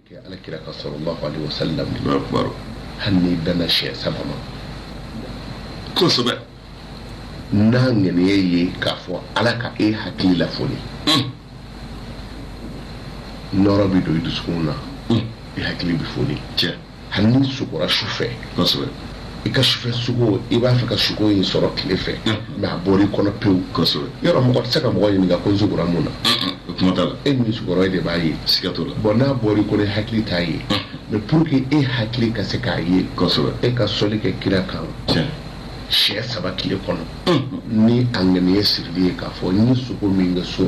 kɛ ala kira kan sallallahu alaihi wasallam Allahu akbar hali n'i danna siɲɛ saba ma kosɛbɛ n'a ŋaniya ye k'a fɔ ala ka e hakili lafoni Mm. nɔrɔ bɛ don i dusukun na Mm. i hakili bɛ foni cɛ hali n'i sugora su fɛ i ka sufɛ sugo i b'a fɛ ka sugo in sɔrɔ tile fɛ mais a bɔra i kɔnɔ pewu yɔrɔ mɔgɔ tɛ se ka mɔgɔ ɲininka ko n sugora mun na e min sugora e de b'a ye bon n'a bɔra i kɔnɔ hakili t'a ye mais pour que e hakili ka se k'a ye e ka sɔli kɛ kira kan siɲɛ saba tile kɔnɔ ni a ŋaniye sirili ye k'a fɔ n ye sugo min kɛ su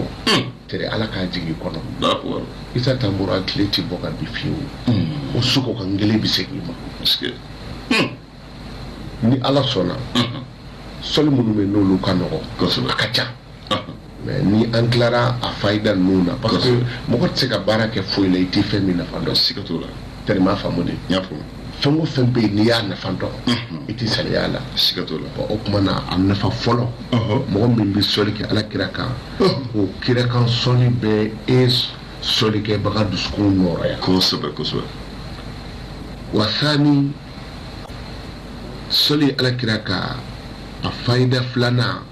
Teri Ala k'a jigin i kɔnɔ. Alahu akibaru. Isa Tanbura tile tɛ bɔ ka bin fiyewu. Unhun. O sugo ka ngele bɛ segin i ma. Parce que. Ni Ala sɔnna. Unhun. Sɔli minnu bɛ yen n'olu ka nɔgɔ. Kosɛbɛ. A ka ca. Unhun. Mais ni an tilara a fayida ninnu na. Parce que Kosɛbɛ. mɔgɔ tɛ se ka baara kɛ foyi la i tɛ fɛn min nafa dɔn. Siga t'o la. Tɛriman faamu de. N y'a faamu. fɛn o fɛn bɛ yen n'i y'a nafa dɔn i tɛ saliya a la siga t'o la o tuma na a nafa fɔlɔ mɔgɔ min bɛ sɔli kɛ ala kira kan o kira kan sɔli bɛ e sɔli kɛbaga dusukun nɔrɔya kosɛbɛ kosɛbɛ wa sani sɔli ala kira kan a fayida filanan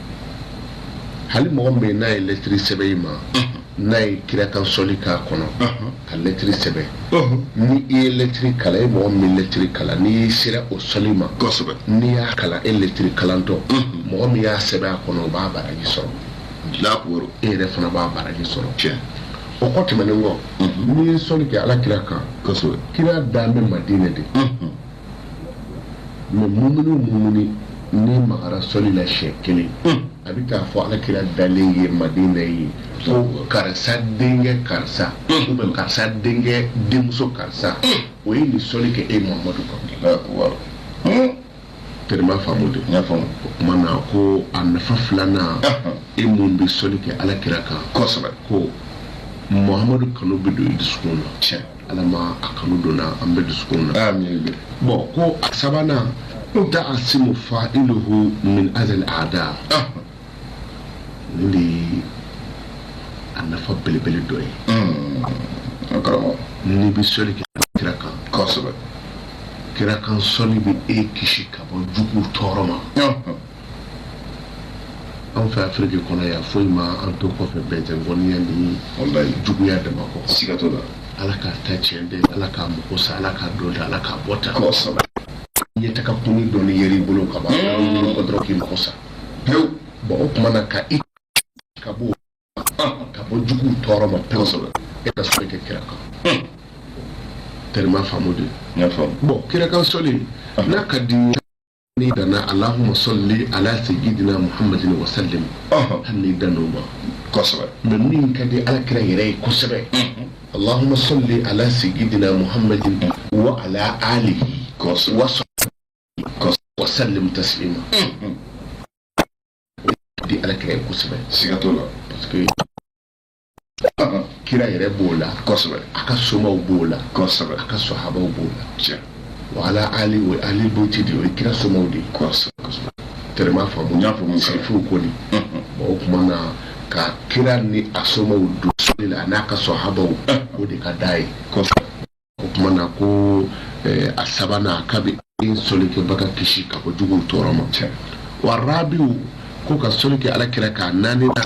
hali mɔgɔ min bɛ n'a ye lɛtiri sɛbɛn i ma n'a ye kira kan sɔli k'a kɔnɔ ka lɛtiri sɛbɛn ni i ye lɛtiri kalan e mɔgɔ min bɛ lɛtiri kalan n'i sera o sɔli ma n'i y'a kalan e lɛtiri kalantɔ mɔgɔ min y'a sɛbɛn a kɔnɔ o b'a baraji sɔrɔ e yɛrɛ fana b'a baraji sɔrɔ o kɔ tɛmɛnen kɔ n'i ye sɔli kɛ ala kira kan kira dan bɛ madinɛ de mais mumuni o mumuni nɛn magara sɔli la siɲɛ kelen a bɛ taa fɔ ala kira dalen ye madina ye ko karisa denkɛ karisa ou bien karisa denkɛ denmuso karisa o ye nin sɔli kɛ e muhamadu kan tɛrɛma faamu de n y'a faamu o tuma na ko a nafa filanan e min bɛ sɔli kɛ ala kira kan kosɛbɛ ko muhamadu kanu bɛ don i dusukun na tiɲɛ ala ma a kanu donna an bɛ dusukun na bon ko a sabanan ta'asimu fa'iluhu min azal a'da nin de ye a nafa belebele dɔ ye n'i bɛ sɔli kɛ kira kan kosɛbɛ kira kan sɔli bɛ e kisi ka bɔ jugu tɔɔrɔ ma anw fɛ afiriki kɔnɔ yan foyi ma an to kɔfɛ bɛɛ tɛ koniya ni juguya dama kɔ siga t'o la ala k'a ta tiɲɛ de ala k'a mako sa ala k'a dɔ da ala k'a bɔ ta kosɛbɛ ɲɛ taga kunni dɔɔni yɛrɛ i bolo ka ban bolo kɔ dɔrɔn k'i mako sa pewu bɔn o tuma na ka i ka bɔ ka bɔ juguw tɔɔrɔ ma pewu kosɛbɛ e ka sɔli kɛ kira kan tɛrɛma faamu de bɔn kira kan sɔli n'a ka di n'i danna allahumma salli ala sayyidina muhammadin wa sallim Ɔhɔn. hali n'i dann'o ma kosɛbɛ mais min ka di ala kira yɛrɛ ye kosɛbɛ allahumma salli ala sayyidina muhammadin wa ala alihi Kosɛbɛ. wa sahbihi kosɛbɛ wa sallim taslima di ala kira ye kosɛbɛ siga t'o la parce que kira yɛrɛ b'o la kosɛbɛ a ka somaw b'o la kosɛbɛ a ka sohabaw b'o la tiɲɛ wa ala ali o ali bayti de o ye kira somaw de ye kosɛbɛ kosɛbɛ tɛrɛma faamu n y'a faamu sarifuw ko de bon o tuma na ka kira ni a somaw don sɔli la a n'a ka sohabaw o de ka d'a ye kosɛbɛ o tuma na ko eh, a sabanan a k'a bi e sɔli kɛbaga kisi ka bɔ juguw tɔɔrɔ ma wa rabi'u ko ka sɔli kɛ ala kira kan a naaninan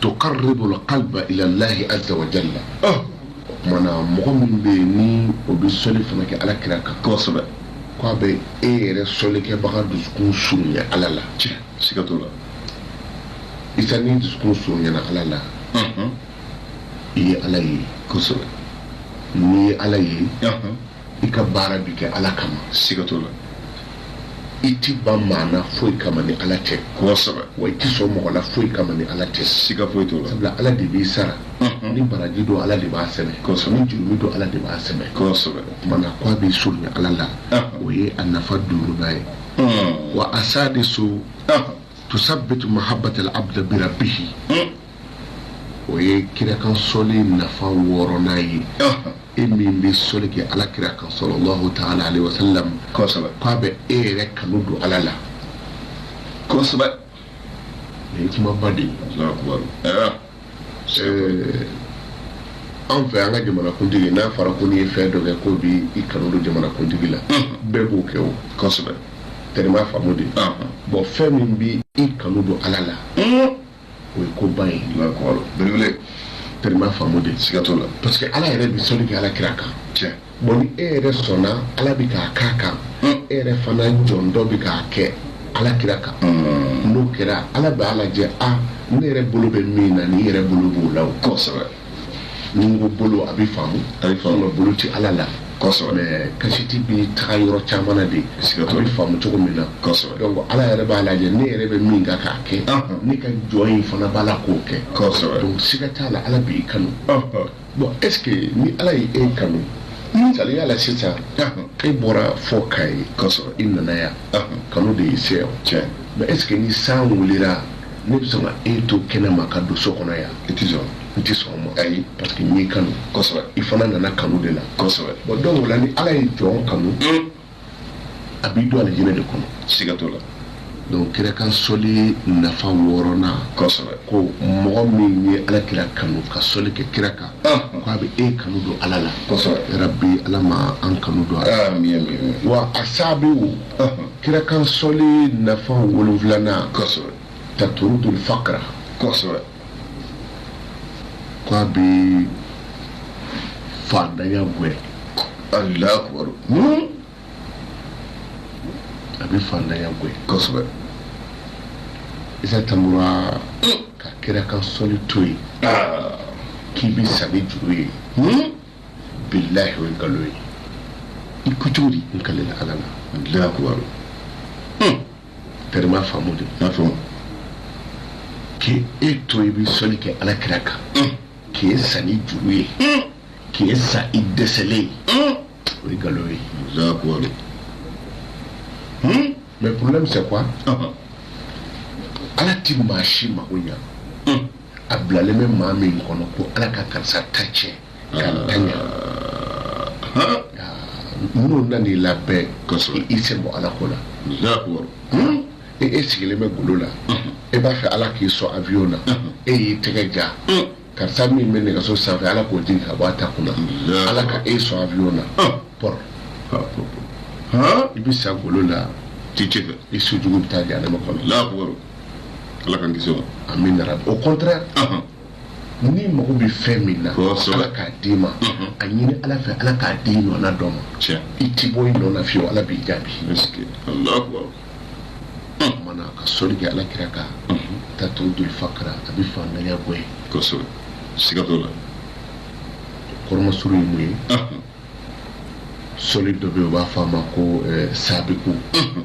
tuqarribul qalba ilallahi azza wa jalla o tuma na mɔgɔ min bɛ yen ni o bɛ sɔli fana kɛ ala kira kan kosɛbɛ k'a bɛ e yɛrɛ sɔlikɛbaga dusukun surunya ala la tiɲɛ siga t'o la sisan n'i dusukun surunyana ala la i ye ala ye kosɛbɛ n'i ye ala ye i ka baara bi kɛ ala kama siga t'o la i ti ban maa na foyi kama ni ala tɛ kosɛbɛ wa i ti sɔn mɔgɔ la foyi kama ni ala tɛ siga foyi t'o la sabula ala de b'i sara Mhm. ni baraji don ala de b'a sɛbɛn Kosɛbɛ. ni jurumi don ala de b'a sɛbɛn kosɛbɛ o tuma na k'a b'i surunya ala la Ah. o ye a nafa duurunan ye Mhm. wa as-sadisu Ah. tusabbitu mahabbata al-abdi bi rabbihi Mhm. o ye kira kan sɔli nafa wɔɔrɔnan ye Ah. e min bɛ sɔli kɛ ala kira kan sallallahu ta'ala alayhi wa sallam kosɛbɛ k'a bɛ e yɛrɛ kanu don ala la kosɛbɛ nin ye kumaba de ye Allahu akbar ɛɛ Ɛɛ, anw fɛ an ka jamanakuntigi n'a fɔra ko n'i ye fɛn dɔ kɛ k'o bi i kanu don jamanakuntigi la bɛɛ b'o kɛ o kosɛbɛ tɛrɛma faamu de ɔhɔn bɔn fɛn min bi i kanu don ala la un o ye koba ye kɔrɔ belebele tɛrɛma faamu de siga t'o la parce que ala yɛrɛ bi sɔli kɛ ala kira kan tiɲɛ bon ni e yɛrɛ sɔnna ala bi k'a k'a kan e yɛrɛ fana jɔn dɔ bi k'a kɛ ala kira kan n'o kɛra ala b'a lajɛ a ne yɛrɛ bolo bɛ min na nin yɛrɛ bolo b'o la o kosɛbɛ ni n ko bolo a bɛ faamu A bɛ faamu. Nka bolo ti ala la Kosɛbɛ. mais kasiti bɛ taga yɔrɔ caman na de Siga t'o la. a bɛ faamu cogo min na Kosɛbɛ. donc ala yɛrɛ b'a lajɛ ne yɛrɛ bɛ min kan k'a kɛ Ɔhɔn. ne ka jɔn in fana b'a la k'o kɛ Kosɛbɛ. donc siga t'a la ala b'i kanu bon est ce que ni ala ye e kanu misaliya la sisan Ɔhɔn. e bɔra fo Kayi Kosɛbɛ. i nana yan Ɔhɔn. kanu de y'i se yan Tiɲɛ. mais est ce que ni san wulila ne bɛ sɔn ka e to kɛnɛma ka don so kɔnɔ yan i tɛ sɔn n tɛ sɔn o ma ayi parce que n y'i kanu kosɛbɛ i fana nana kanu de la kosɛbɛ bon donc o la ni ala ye jɔn kanu a b'i don alijinɛ de kɔnɔ siga t'o la donc kira kan sɔli nafa wɔɔrɔnan kosɛbɛ ko mɔgɔ min ye ala kira kanu ka sɔli kɛ kira kan ko a bɛ e kanu don ala la kosɛbɛ yarabi ala ma an kanu don a la amin amin wa a saabiw Kira kan sɔli nafa wolonwulanan taturudul fakra ko a bɛ faantanya gɛn alahu akibaru a bɛ faantanya gɛn isa tan ka kira kan sɔli to yen k'i bɛ sa ni juru ye bilahi o ye nkalon ye i ko cogo di n kalela ala la alahu akibaru terme faamu de n'a fɔ k'e e to i bɛ sɔli kɛ ala kira kan k'e sa ni juru ye k'e sa i dɛsɛlen ye o ye nkalon ye alahu akibaru mais problème c'est quoi ala ti maa si mago ɲa a bilalen bɛ maa min kɔnɔ ko ala ka karisa ta tiɲɛ k'a ta ɲa n'o na n'i labɛn kosɛbɛ i sen bɔ ala ko la e e sigilen bɛ golo la e b'a fɛ ala k'i sɔn avion na e y'i tɛgɛ ja karisa min bɛ nɛgɛso sanfɛ ala k'o jigin ka bɔ a ta kunna ala ka e sɔn avion na pɔr i bɛ sa golo la i su jugu bɛ taa jahanama kɔnɔ Ala k'an kisi o ma. Amin yarabi. Au contraire Ɔnhɔn. n'i mago bɛ fɛn min na Kosɛbɛ. Ala k'a d'i ma Unhun. a ɲini Ala fɛ Ala k'a d'i ɲɔgɔnna dɔ ma Tiɲɛ. i tɛ bɔ i nɔ na fiyewu Ala b'i jaabi Est-ce que Alahu akibaru. o tuma na ka sɔli kɛ Ala kira kan Unhun. taturudul fakra a bɛ faantanya bɔ yen Kosɛbɛ. Siga t'o la. kɔrɔmasuru ye mun ye Ɔnhɔn. sɔli dɔ bɛ yen u b'a fɔ a ma ko eh, sabiku Unhun.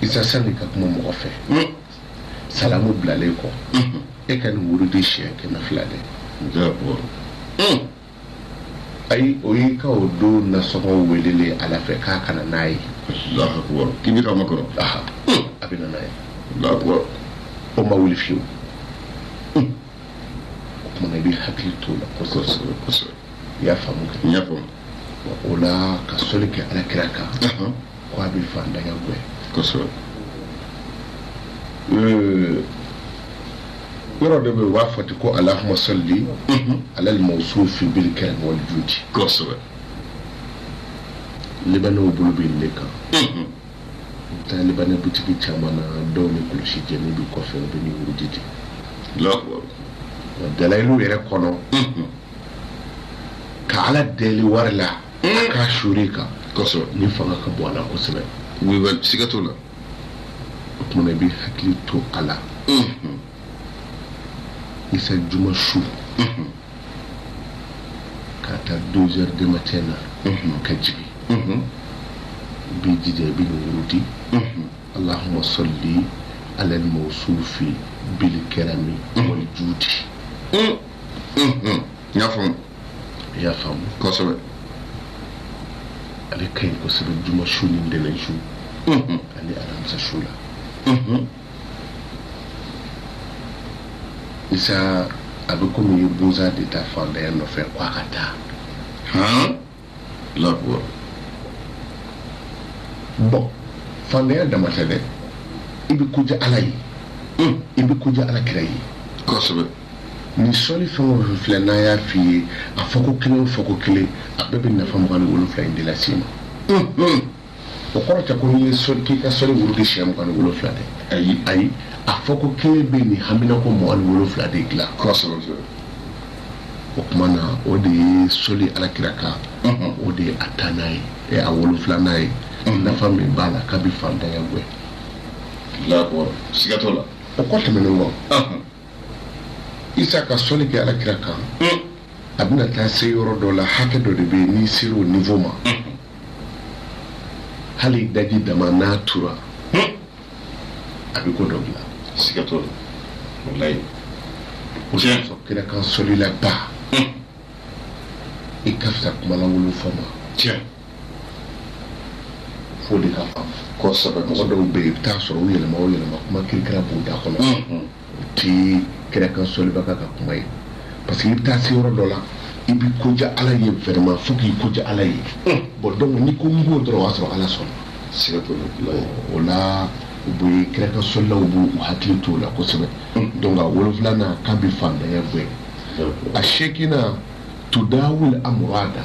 Isa sani ka kuma mɔgɔ fɛ salamu bilalen kɔ e ka nin wurudi siɲɛ kɛmɛ fila dɛ ayi o y'i ka o don nasɔngɔ welelen ala fɛ k'a ka na n'a ye k'i bɛ k'a makɔnɔ a bɛ na n'a ye o ma wuli fiyewu o tuma na i bɛ hakili t'o la i y'a faamu o la ka sɔli kɛ ala kira kan ko a bɛ fantanya gɛn kosɛbɛ yɔrɔ dɔ bɛ yen u b'a fɔ ten ko allahuma salli alal mawsufi bil karami wal judi kosɛbɛ libanɛw bolo bɛ nin de kan u bɛ taa libanɛ butigi caman na dɔw ni kolosi jannin bɛ kɔfɛ u bɛ nin wurudi di dalayilu yɛrɛ kɔnɔ ka ala deli wari la hmm. k'a suuru i kan kosɛbɛ nin fanga ka bon a la kosɛbɛ siga t'o la o tumana i bɛ hakili to a la hmm. isa juma su hmm. k'a ta deux heures de matin na ka jigin i b'i jija i bɛ nin wurudi allahuma salli ala mawsufi bil karami wal judi y'a faamu i y'a faamu kosɛbɛ ale ka ɲi kosɛbɛ juma su ni ntɛnɛn su ani alamisa su la isa a bɛ komi i ye busa de ta fantanya nɔfɛ ko a ka taa la bon fantanya dama tɛ dɛ i bɛ kodiya ala ye i bɛ kodiya ala kira ye kosɛbɛ nin sɔli fɛn o fɛn filɛ n'a y'a f'i ye a fɔko kelen o fɔko kelen a bɛɛ bɛ nafa mugan ni wolonwula in de lase i ma o kɔrɔ tɛ ko n'i ye sɔli k'i ka sɔli wurudi siɲɛ mugan ni wolonwula dɛ ayi ayi a fɔko kelen bɛ nin hamina ko mugan ni wolonwula de dilan kosɛbɛ kosɛbɛ o tuma na o de ye sɔli alakira kan Unhun. o de ye a tannan ye ɛ a wolonwulanan ye nafa min b'a la k'a bɛ fantanya gɛn là quoi siga t'o la o kɔ tɛmɛnen kɔ Ahun. isa ka sɔli kɛ alakira kan Mm. a bɛna taa se yɔrɔ dɔ la hakɛ dɔ de bɛ yen n'i sera o niveau ma hali daji dama n'a tura a bɛ ko dɔ dilan siga t'o la walayi o sira fɔ kira kan sɔlila ba i ka fisa kumalankolon fɔ ma tiɲɛ fo de ka faamu kosɛbɛ mɔgɔ dɔw bɛ yen i bɛ taa sɔrɔ u yɛlɛma o yɛlɛma kuma kirikira b'u da kɔnɔ tɛ kira kan sɔlibaga ka kuma ye parce que i bɛ taa se yɔrɔ dɔ la i bɛ koja ala ye vraiment fo k'i koja ala ye bon donc n'i ko n b'o dɔrɔn o y'a sɔrɔ ala sɔnna siga t'o la o la u bɛ kira kan sɔlilaw b'u hakili t'o la kosɛbɛ donc a wolonfilanan k'a bɛ faantanya gɛn a seekinan tudawul amurada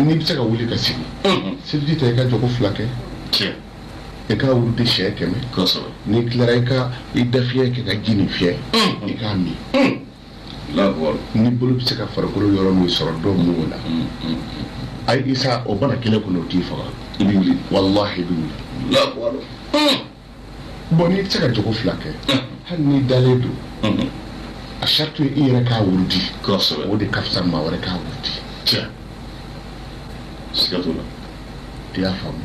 n'i bɛ se ka wuli ka sigi seliji ta i ka jɔko fila kɛ i k'a wurudi siyɛn kɛmɛ n'i tilara i ka i dafiɲɛ kɛ ka ji nin fiyɛ i k'a min n'i bolo bɛ se ka farikolo yɔrɔ min sɔrɔ dɔ mun o la ayi isa o bana kelen kɔnɔ o t'i faga i bɛ wuli walahi i bɛ wuli Bon n'i tɛ se ka jɔko fila kɛ hali n'i dalen don a sarito i yɛrɛ k'a wurudi o de ka fisa maa wɛrɛ k'a wurudi i ye siga t'o la i y'a faamu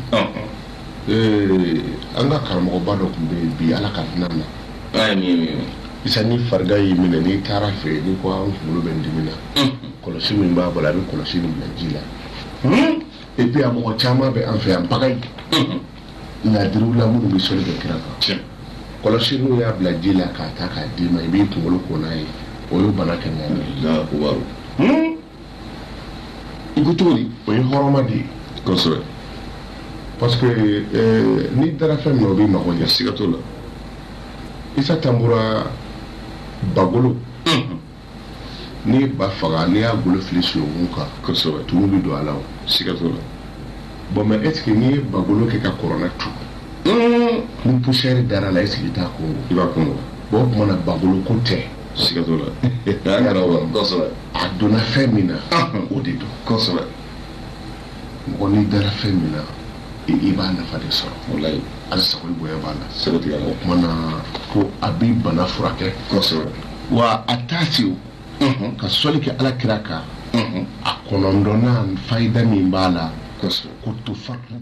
an ka karamɔgɔba dɔ tun bɛ yen bi ala ka hinɛ na isa ni farigan y'i minɛ n'i taara a fɛ yen n'i ko n kunkolo bɛ n dimi na kɔlɔsi min b'a bolo a bɛ kɔlɔsi nin bila ji la et puis a mɔgɔ caman bɛ an fɛ yan bagayi ladiriw la minnu bɛ sɔli kɛ kira kan kɔlɔsi n'u y'a bila ji la k'a ta k'a d'i ma i b'i kunkolo ko n'a ye o ye bana kɛnɛya ye hmm? i ko cogo di o ye hɔrɔma de ye kosɛbɛ parce que eh, n'i dara fɛn min na o b'i mago ɲɛ siga t'o la isa tanbura bagolo N'i ba faga n'i y'a golo fili sunungun kan kosɛbɛ tumu bɛ don a la siga t'o la bon mais est-ce que n'i ye bagolo kɛ ka kuranɛ tu ni poussière dara a la est-ce que i t'a kongon i b'a kongon o tuma na bagolo ko tɛ siga t'o la a donna fɛn min na o de don mɔgɔ n'i dara fɛn min na i i b'a nafa de sɔrɔ walayi ala sago ni bonya b'a la sɛbɛ tiɲɛ la o kuma na ko a bɛ bana furakɛ kosɛbɛ wa a t'a se o unhun ka sɔli kɛ ala kira kan unhun a kɔnɔndɔnna fayida min b'a la kosɛbɛ ko to fatu